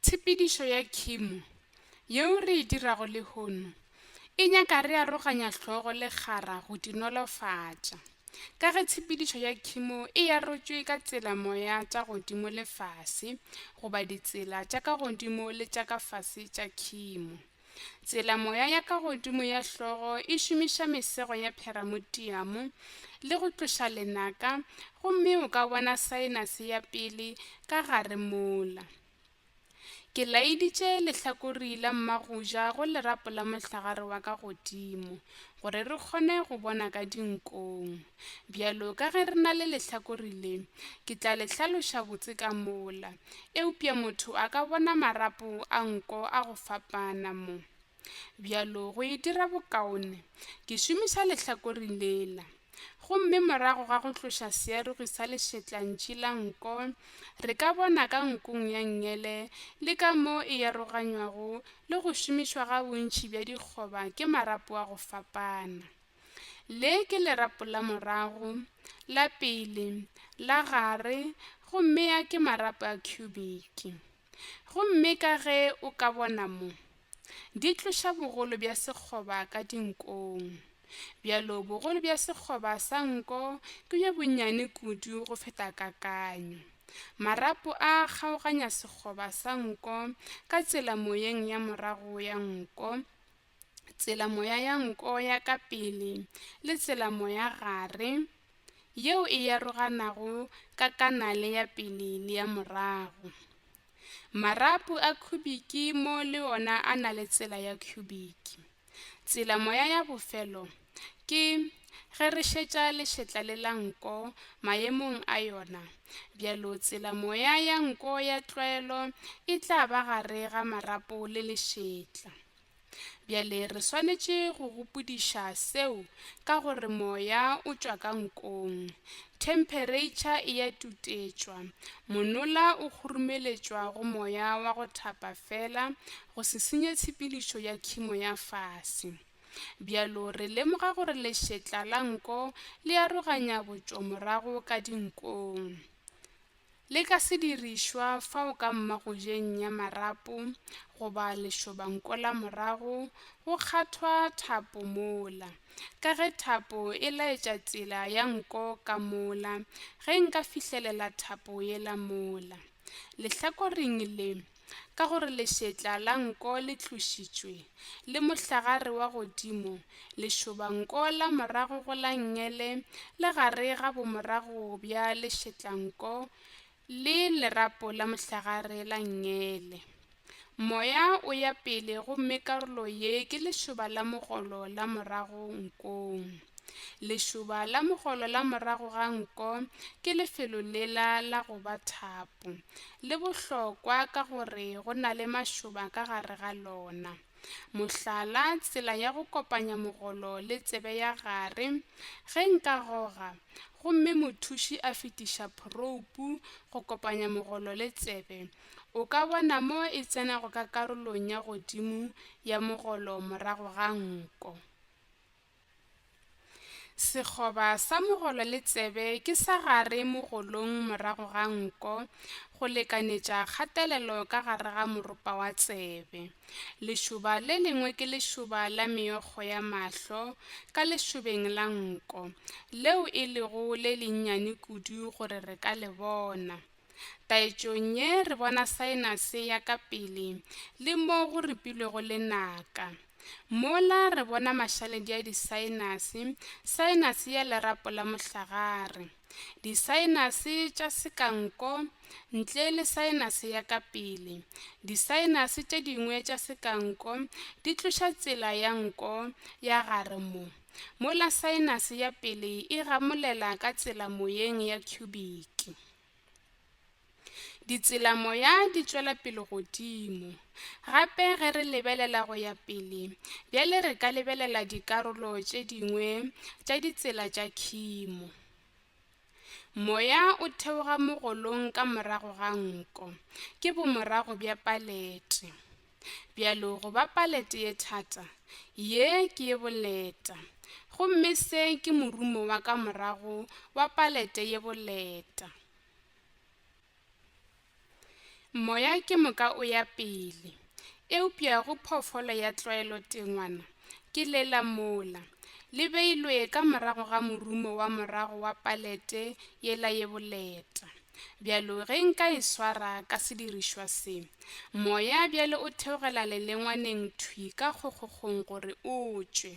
Tshepedišo ya khimo yeo re e dirago lehono e nyaka re aroganya hlogo le kgara go di nolofatša. Ka ge tshepedišo ya khimo e arotšwe ka tsela moya tša godimo le fase goba ditsela tša ka godimo le tša ka fase tša khimo, Tsela moya ya ka godimo ya hlogo e šomiša mesego ya pheramutiamo le go tloša lenaka gomme o ka bona saenase ya pele ka gare mola. Ke laeditše lehlakori la mmagoja go lerapo la mohlagare wa ka godimo gore re kgone go bona ka dinkong. Bjalo ka ge re na le lehlakore le, ke tla le hlaloša botse ka mola. Eupša motho a ka bona marapo a nko a go fapana mo. Bjalo go e dira bokaone, ke šomiša lehlakore lela. Gomme morago ga go tloša searogi sa lešetlantši la nko, re ka bona ka nkong ya nngele le ka mo e yaroganywago le go šomišwa ga bontši bja dikgoba ke marapo a go fapana. Le ke lerapo la morago, la pele, la gare gomme a ke marapo a khubiki. Gomme ka ge o ka bona mo, di tloša bogolo bja sekgoba ka dinkong. Bjalo bogolo bja sekgoba sa nko ke bjo bonnyane kudu go feta kakanyo. Marapo a a kgaoganya sekgoba sa nko ka tsela moyeng ya morago ya nko, tsela-moya ya nko ya ka pele le tsela-moya gare yeo e aroganago ka kanale ya pele le ya morago. Marapu a khubiki mo le ona a na le tsela ya khubiki. Tsela-moya ya bofelo ke ge re šetša lešetla le la nko maemong a yona, bjalo tsela-moya ya nko ya tlwaelo e tla ba gare ga marapo le lešetla. Bjale re swanetše go gopodiša seo ka gore moya o tšwa ka nkong, themphereitšha e ya tutetšwa, monola o khurumeletšwa go moya wa go thapa feela go se senye tshepedišo ya khimo ya fase. Bjalo re lemoga gore lešetla la nko le aroganya botšomorago ka dinkong. Le ka se dirišwa fao ka mmagojeng ya marapo goba lešobanko la morago go kgathwa thapo mola. Ka ge thapo e laetša tsela ya nko ka mola, ge nka fihlelela thapo yela mola, lehlakoreng le, ka gore lešetla la nko le tlošitšwe, le mohlagare wa godimo, lešobanko la morago go la ngele le gare ga bomorago bja lešetlanko le lerapo la mohlagare la ngele. Moya o ya pele gomme karolo ye ke lešoba la mogolo la morago nkong. Lešoba la mogolo la morago ga nko ke lefelo lela la go ba thapo. le bohlokwa ka gore go na le mašoba ka gare ga lona. Mohlala, tsela ya go kopanya mogolo le tsebe ya gare, ge nka goga gomme mothuši a fetiša phroupu go kopanya mogolo le tsebe, o ka bona mo e tsenago ka karolong ya godimo ya mogolo morago ga nko. Sekgoba sa mogolo le tsebe ke sa gare mogolong morago ga nko go lekanetša kgatelelo ka gare ga moropa wa tsebe. Lešoba le lengwe ke lešoba la meokgo ya mahlo ka lešobeng la nko, leo e lego le lennyane kudu gore re ka le bona. Taetšong ye re bona saenase ya ka pele le mo go ripilwego lenaka. Mola re bona mašaledi a disaenase, saenase ya lerapo la mohlagare, disaenase tša sekanko ntle le saenase ya ka pele. Disaenase tše dingwe tša sekanko di tloša tsela ya nko ya gare mo, mola saenase ya pele e gamolela ka tsela moyeng ya khubiki. Ditselamoya di tšwela pele godimo. Gape ge re lebelela go ya pele, bjale re ka lebelela dikarolo tše dingwe tša ditsela tša khimo. Moya o theoga mogolong ka morago ga nko, ke bomorago bja palete. Bjalo go ba palete ye thata, ye ke ye boleta. Gomme se ke morumo wa ka morago wa palete ye boleta. Moya ke moka o ya pele. Eupša go phoofolo ya tlwaelo tengwana ke lela mola, le beilwe ka morago ga morumo wa morago wa palete yela ye boleta. Bjalo ge nka e swara ka sedirišwa se, moya bjale o theogela lelengwaneng thwi ka kgokgokgong gore o tšwe.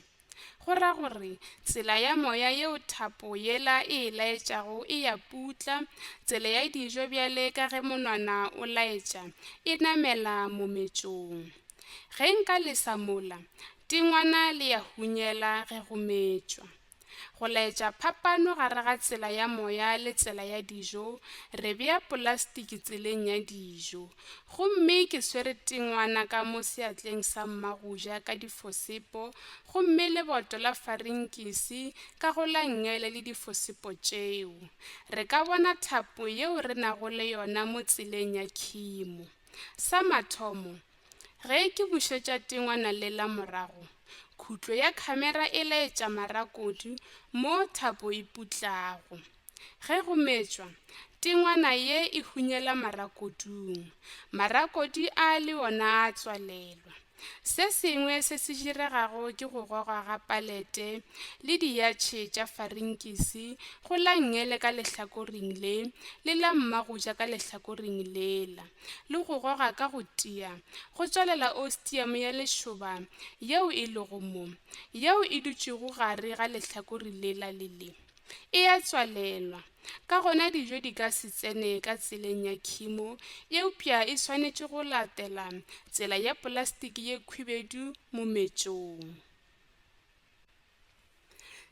Go ra gore, tsela ya moya yeo thapo yela e e laetšago e ya putla, tsela ya dijo bjale ka ge monwana o laetša, e namela mometšong. Ge nka lesa mola, tengwana le ya hunyela ge go metšwa. Go laetša phapano gare ga tsela ya moya le tsela ya dijo, re bea polastiki tseleng ya dijo. Gomme ke swere tingwana ka mo seatleng sa mmagoja ka difosepo, gomme leboto la farinkisi ka go la ngele le difosepo tšeo. Re ka bona thapo yeo re nago le yona mo tseleng ya khimo. Sa mathomo, Ge ke bušetša tengwana le la morago, khutlo ya khamera e laetša marakodu mo thapo e putlago. Ge go metšwa, tengwana ye e hunyela marakodung. Marakodi a le ona a tswalelwa. Se sengwe se se diregago ke go gogwa ga palete le diyatšhe tša farinkisi go la ngele ka lehlakoring le le la mmagoja ka lehlakoring lela. le go goga ka go tia, go tswalela ostiamo ya lešoba yeo e lego mo, yeo e dutšego gare ga lehlakore lela le le. E a tswalelwa. Ka gona dijo di ka se tsene ka tseleng ya khimo, eupša e swanetše go latela tsela ya polastiki ye khwibedu mometšong.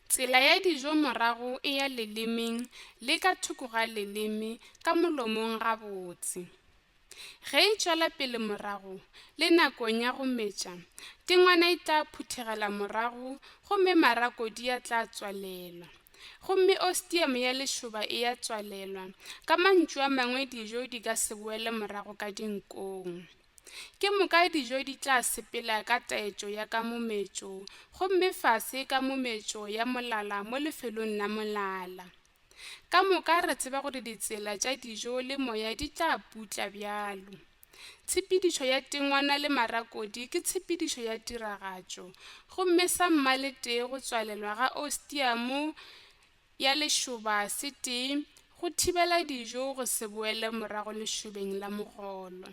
Tsela ya dijo morago e ya lelemeng le ka thoko ga leleme ka molomong gabotse. Ge e tšwela pele morago le nakong ya go metša, tengwana e tla phuthegela morago gomme marako di a tla tswalelwa, gomme ostium ya lešoba e ya tswalelwa, ka mantšu a mangwe dijo di ka se boele morago ka dinkong. Ke moka dijo di tla sepela ka taetšo ya ka mometšo, gomme fase ka mometšo ya molala mo lefelong la molala. Ka moka re tseba gore ditsela tša dijo le moya di tla putla bjalo. Tshepedišo ya tengwana le marakodi ke tshepedišo ya tiragatšo, gomme sa mmaletee go tswalelwa ga Ostia mo ya lešoba se tee go thibela dijo go se boele morago lešobeng la mogolo.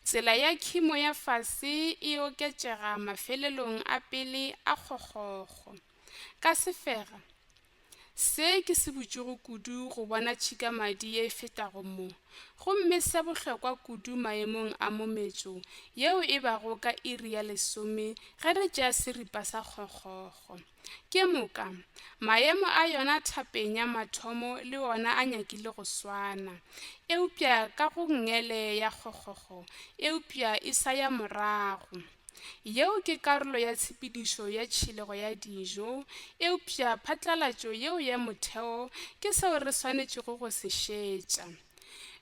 Tsela ya khimo ya fase e oketšega mafelelong a pele a kgokgokgo. Ka sefega, se ke se botšego kudu go bona tšhikamadi ye e fetago mo, gomme se bohlokwa kudu maemong a mometšo yeo e bago ka iri ya lesome ge re tšea seripa sa kgokgokgo. Ke moka, maemo a yona thapeng ya mathomo le ona a nyakile go swana, eupša ka go ngele ya kgokgokgo, eupša e sa ya morago. Yeo ke karolo ya tshepedišo ya tšhilego ya dijo, eupša phatlalatšo yeo ya motheo ke seo re swanetšego go se šetša.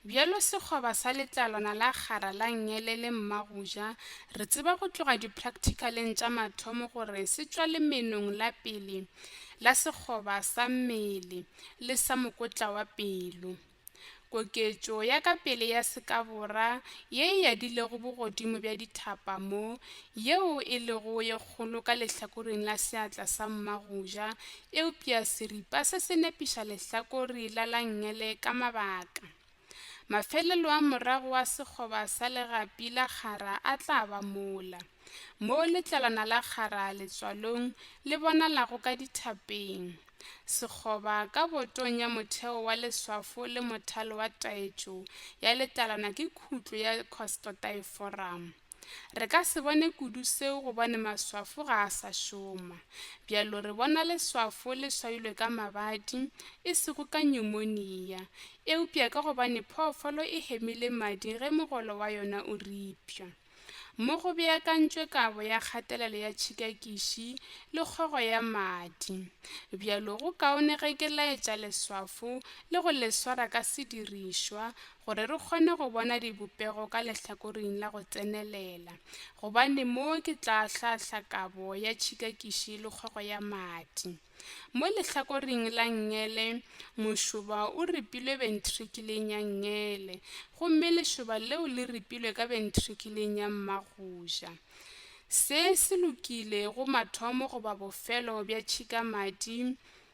Bjalo sekgoba sa letlalwana la kgara la nngele le mma go ja, re tseba go tloga dipracticaleng tša mathomo gore se tšwa lemenong la pele la sekgoba sa mmele le sa mokotla wa pelo. Koketšo ya ka pele ya sekabora ye e yadilego bogodimo bja dithapa mo, yeo e lego ye kgolo ka lehlakoreng la seatla sa mma go ja, Eupša seripa se se nepiša lehlakore la langele ka mabaka. Mafelelo a morago a sekgoba sa legapi la kgara a tla ba mola, mo letlalwana la kgara letswalong le bonalago ka dithapeng. Sekgoba ka botong ya motheo wa leswafo le mothalo wa taetšo ya letlalwana ke khutlo ya costotaeforamo. Re ka se bone kudu seo gobane maswafo ga a sa šoma. Bjalo re bona leswafo le swailwe ka mabadi, e sego ka nyumonia. Eupša ka gobane phoofolo e hemile madi ge mogolo wa yona o ripša. Mo go beakantšwe kabo ya kgatelelo ya tšhikakiši le kgogo ya madi. Bjalo go kaone ge ke laetša leswafo le go le swara ka sedirišwa gore re kgone go bona dibopego ka lehlakoring la go tsenelela, gobane mo ke tla hlahla kabo ya tšhikakiši le kgogo ya madi. Mo lehlakoring la nngele, mošoba o ripilwe bentrikileng ya nngele, gomme lešoba leo le ripilwe ka bentrikileng ya mmagoja. Se se lokile go mathomo goba bofelo bja tšhikamadi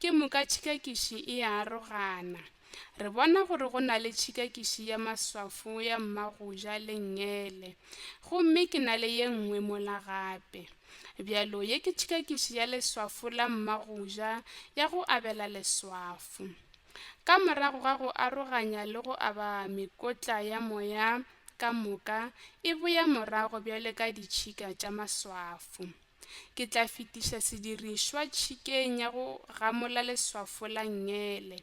Ke moka tšhikakiši e a arogana. Re bona gore go na le tšhikakiši ya maswafo ya mmagoja le nngele, gomme ke na le ye nngwe mola gape. Bjalo ye ke tšhikakiši ya leswafo la mmagoja ya go abela leswafo. Ka morago ga go aroganya le go aba mekotla ya moya ka moka e boya morago bjale ka ditšhika tša maswafo. Ke tla fetiša sedirišwa tšhikeng ya go gamola leswafo la ngele,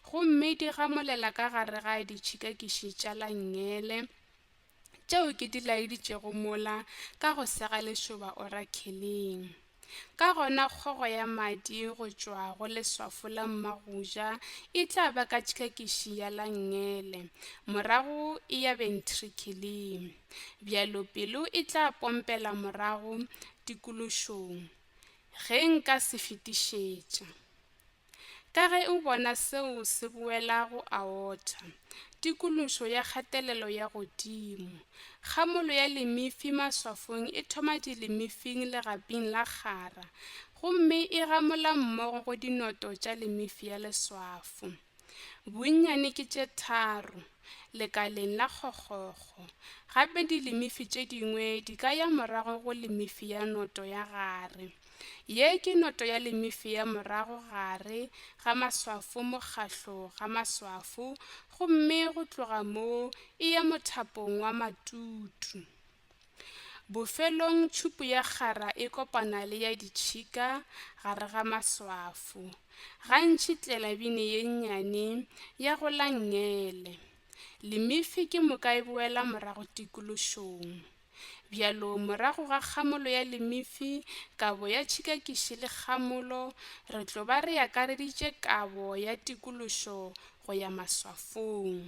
gomme di gamolela ka gare ga ditšhikakiši tša la ngele tšeo ke di laeditšego mola ka go sega lešoba orakheleng. Ka gona kgogo ya madi go tšwa go leswafo la mmagoja e tla ba ka tšhikakiši ya la ngele, morago e ya bentrikheleng. bjalo pelo e tla pompela morago dikološong ge nka se fetišetša. Ka ge o bona seo se boela go aorta, dikološo ya kgatelelo ya godimo. Kgamolo ya lemifi maswafong e thoma dilemifing legaping la kgara gomme e gamola mmogo go dinoto tša lemifi ya leswafo. Bonnyane ke tše tharo, lekaleng la kgokgokgo. Gape dilimifi tše dingwe di ka ya morago go limifi ya noto ya gare. Ye ke noto ya limifi ya morago gare ga maswafo mokgahlo ga maswafo gomme go tloga moo e ya mothapong wa matutu. Bofelong tšhupu ya kgara e kopana le ya ditšhika gare ga maswafo, gantši tlelabine ye nnyane ya go la ngele. Limifi ke moka e boela morago tikološong. Bjalo morago ga kgamolo ya limifi, kabo ya tšhikakiši le kgamolo re tlo ba re akareditše kabo ya tikološo go ya maswafong.